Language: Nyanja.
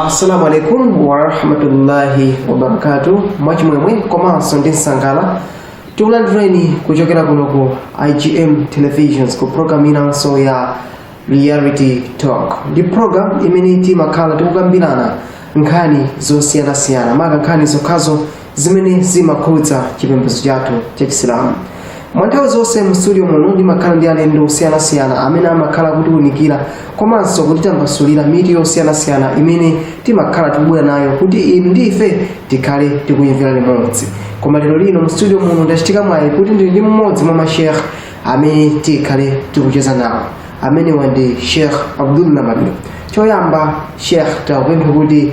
assalamu alaikum warahmatullahi wabarakatu mwachimwemwe komanso ndi nsangala tikulandireni kuchokera kuno ku igm televisions ku program inanso ya reality talk ndi program imene timakhala tikukambirana nkhani zosiyanasiyana maka nkhani zokhazo zimene zimakhudza chipembedzo chathu cha chisilamu mwa nthawi zonse mu studio muno ndimakhala ndi alendo osiyanasiyana amene amakhala kutiunikira komanso kutitambasulira mitu yosiyanasiyana imene timakhala tikubwera nayo kuti inu ndi ife tikhale tikuyimvera limodzi koma lero lino mu studio muno ndachitika mwayi kuti ndili ndi mmodzi mwa mashekh amene tikhale tikucheza nawo amenewa ndi shekh abdul namani choyamba shekh takupempha kuti